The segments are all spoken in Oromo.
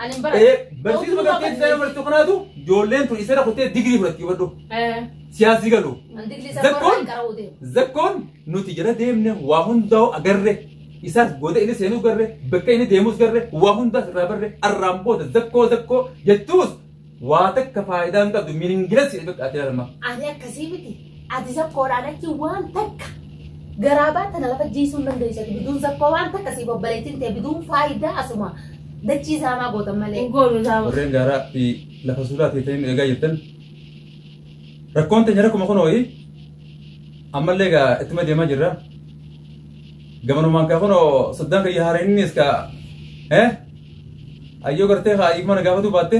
Ani hin baradhu. Eh, Barsiisuma kan keessa ta'e barsiisu kanaatu ijoolleen tun isarra kuttee digirii fudhatti hubadhu. Eh, Siyaasii galu. an digrii isaa Zakkoon? qorraan qara'uu deema. Zakkoon nuti jala deemne waa hundaa'u agarre. Isaas goota inni seenus garre, bakka inni deemus garre, waa hundaas irraa barre, arraan booda zakkoo zakkoo jettuus Waa takka faayidaa hin qabdu miningilas jedhe bakka ati laalama. Ani akkasii miti. Ati zakkoodhaan achi waan takka garaa baatana lafa jiisuun dandeessa. Biduun zakkoo waan takka siif obboleettiin ta'e biduun faayidaa asuma dachii saamaa gootan malee. Hin goonu isaa. Warreen gaaraa fi lafa suuraa teessanii nu eegaa jirtan. Rakkoon teenya rakkuma kun ho'i. Ammallee egaa ittuma deemaa jirra. Gamanumaan kaa kun soddaan kiyya haareenis kaa. Eh? Ayyoo gartee haa hiikmana gaafatuu baatte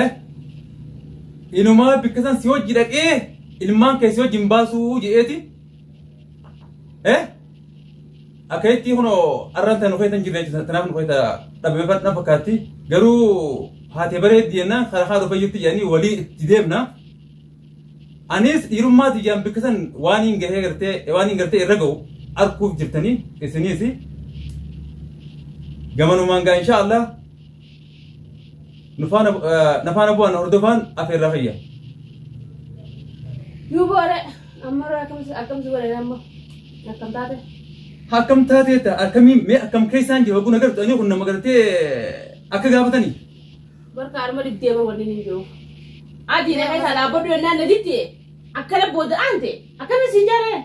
eh inumaa bikka san si hojji dhaqee ilmaan kee si hojji hin baasuu je'eeti eh akka jetti kunoo arraan tan nufeetan jirre jechuudha tanaaf nufeeta dhabame fadhan fakkaatti garuu haatee bareeddi jennaan karaa haa dhufee jirti jedhanii walii itti deemna Anis dhiirummaa tiyyaan bakka san waan hin gahee gartee waan hin gartee irra gahu arguuf jirtanii isiniis gamanumaan gaa insha Allah nufaana nafaana bu'aan hordofaan afeerraa fayya. Yoo boore amma irraa akkamsi akkamsi godhe amma akkam taate. Akkam taateetta akkamiin mee akkam keessaan jiru oguu nagartu ani kun nama gartee akka gaafatanii. Barka arma diddeema waliin hin jiru. Adii na keessaa dhaabbadhu yennaan na didde akkana booda aante akkana isin jaaree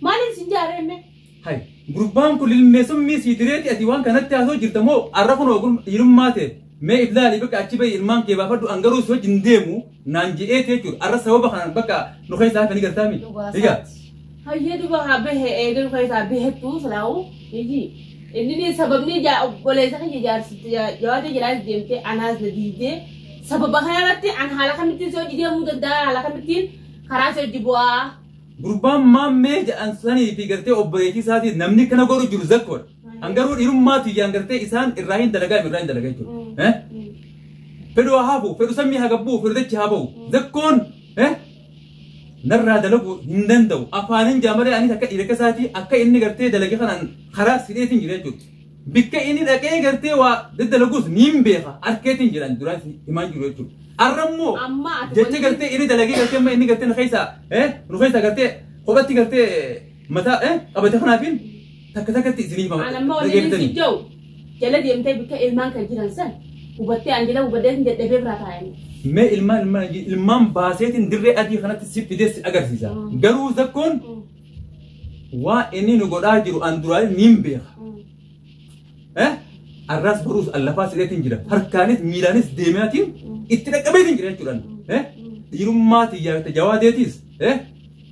maaliin isin jaaree mee? Hay, gurbaan kun ilmee summii sii direeti ati waan kanatti haasoo jirta moo arra kun ogum dhiirummaa ta'e mee iblaali bakka achi bahi ilmaan kee baafadhu an garuu si wajjin deemu naan je'eeti jechuudha. Arra sababa kanaan bakka nu keessaa hafanii gartaa miti. Egaa Hayyee duba haa bahe eegalu keessaa bahettuu silaa'u miti. Inni sababni ijaa obboleessa kiyya jaarsitti jawaata jalaas deemtee anaas na diidee sababa kana irratti an haala kamittiin si hojii deemuu danda'a haala kamittiin karaa si hojii bu'aa. gurbaan maammee jedhan sanii fi gartee obboleettii isaatiin namni kana godhu jiru zakkoodha. An garuu dhiirummaa tiyyaan gartee isaan irraa hin dalagaa irraa hin dalagaa jechuudha. Fedhu haa hafu, fedhu sammii haa gabbuu, fedhu dachi haa ba'u. Zakkoon narraa dalagu hin danda'u. Afaanin jaamalee anis akka dhiira keessaatii akka inni gartee dalage kanaan karaa sidheetiin jira jechuudha. Bikka inni dhaqee gartee waa daddalagus ni hin beeka harkeetiin jiran duraan himaan jiru jechuudha. Arrammoo Amma ati jecha wanti- gartee inni dalagee gartee amma inni gartee nu keessaa nu keessaa gartee kophatti gartee Mataa eh qabate kanaatiin takka takkatti isinii hima. An amma wanni inni si jau jala deemtee bakka ilmaan kan jiran san hubattee an jala hubattee sin dadhabee biraa taa'anii. Mee ilmaan ilmaan ilmaan baaseetiin dirree adii kanatti si fidee si agarsiisa. Garuu zakkoon waa inni nu godhaa jiru an duraalee niin beeka. Eh arraas baruus allafaa sireetiin jira. Harkaanis miilaanis deemeetiin itti dhaqqabeetiin jira jechuudhaan. Eh dhiirummaa tiyyaa tajawaadeetiis. Eh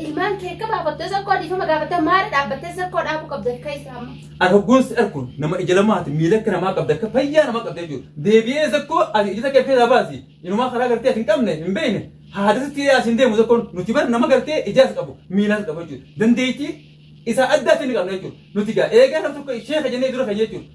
Ilmaan kee akka baafattee sakkoo dhiifama gaafattee maara dhaabbattee sakkoo dhaabuu qabda akka isaa amma. Argaggoon si arkuun nama ija lamaati miila akka namaa qabda akka fayyaa namaa qabda jechuudha. Deebi'ee sakkoo ati ija sakkoo keessaa baasi. Inumaa karaa gartee ati hin qabne hin beekne. Haada sitti hidhaa asiin deemu sakkoon nuti bara nama gartee ijaas qabu miilaas qabu jechuudha. Dandeettii isaa addaa isin qabna jechuudha. Nuti gaa eegaa nam tokko ishee kajannee dura kan jechuudha.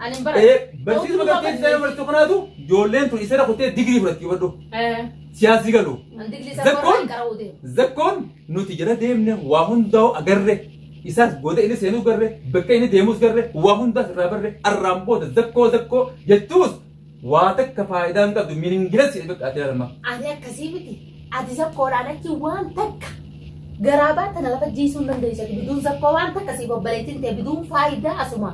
Ani hin baradhu. Eh, Barsiisuma gaggeessu ta'ee barsiisuu kanaatu ijoolleen tun isarra kuttee digirii fudhatti hubadhu. Eh, Siyaasii galu. An digrii isaa Zakkoon? qoraan qara'uu deema. Zakkoon nuti jala deemne waa hundaa'u agarre. Isaas booda inni seenuu garre, bakka inni deemus garre, waa hundaas irraa barre, arraan booda zakkoo zakkoo jettuus Waa takka faayidaa hin qabdu miningilas jedhe bakka adda lama. Ani akkasii miti. Ati zakkoodhaan achi waan takka garaa baata na lafa jiisuu hin dandeessu. Ati biduun zakkoo waan takka siif obboleettiin ta'e biduun faayidaa asuma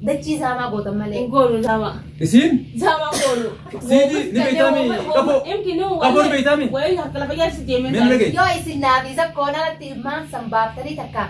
dachii zaamaa gootan malee. Hin goonu zaamaa. Isiin Zaamaa goonu. Siidii ni beektaami qaboo. Imti nu Qaboo ni beektaami. Wayii harka lafa jaarsi deemee. Meen dhagaye. Yoo isin naafi zakkoon alatti ilmaan san baaftanii takka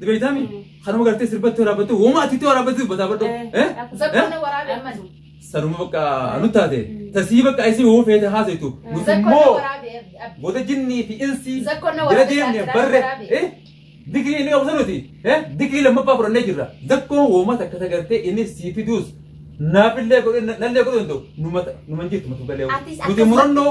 Ni beeytaami? Kanuma gartee sirbatti waraabbattee homaa atitti waraabbattee dubbataa badhu. Eh? Zakkoon waraabee ammas. Sanuma bakka nu taate. Tasii bakka isii hoo feete haasaitu. Nuti Zakkoon immoo waraabee abdi. booda jinnii fi insii Zakkoon na jala waraabee deemne gaazexaa barre. waraabee. Eh? Digrii inni qabu sanuti. Eh? Digrii lammaffaa fudhannee jirra. Zakkoon homaa takka tagartee inni sii fiduus. Naafillee godhe nallee godhe hin ta'u. Numa hin jirtu matu galee. Atis Nuti akkas- murannoo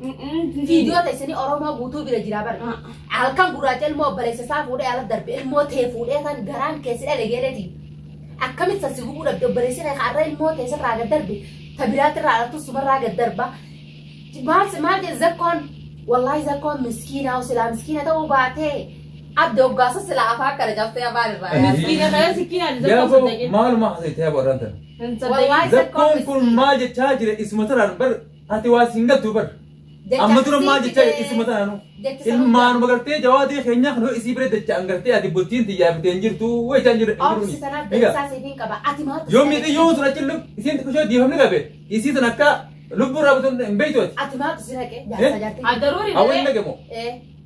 Viidiyoo teessanii Oromoo guutuu bira jira bari. Halkan gurraacha ilmoo obboleessa isaa fuudhee ala darbe ilmoo tee fuudhee kan garaan keessi dhale geeleeti. Akkamitti sassi gubuu dhabde obboleessi kee har'a ilmoo tee sirraa gad darbe ta biraatti irraa alattu sumarraa gad darba. Maal maal jedhe zakkoon wallaahi zakkoon miskiinaa silaa miskiina ta'uu baatee adda hoggaasa silaa afaa akkana cabsee afaan irraa. Miskiina kana sikkiinaan Gaafa zakkoon saddeeqin. maaluma haasa'e ta'e warraan tana. Hin saddeeqin. Wallaahi Zakkoon kun maal jechaa jira isuma taraan bar Ati waa siin galtuu bar. Amma dura maal jecha isuma taanu. Ilmaan magartee jawaadee keenyaa kan isii bira dachaan gartee ati bultiin tiyyaa bitee hin jirtu wayii jaan jirtu. Obsi sana beeksisaa siif hin qaba. Ati maatu. Yoo miidhi yoo tura cillu isiin xiqqishoo diifamni qabe isii sana akka lubbuu irraa butun hin beektu ati. Ati maatu si naqe. Jaarsa jaartii. Addaruuri Hawwan hin naqe moo? Eh.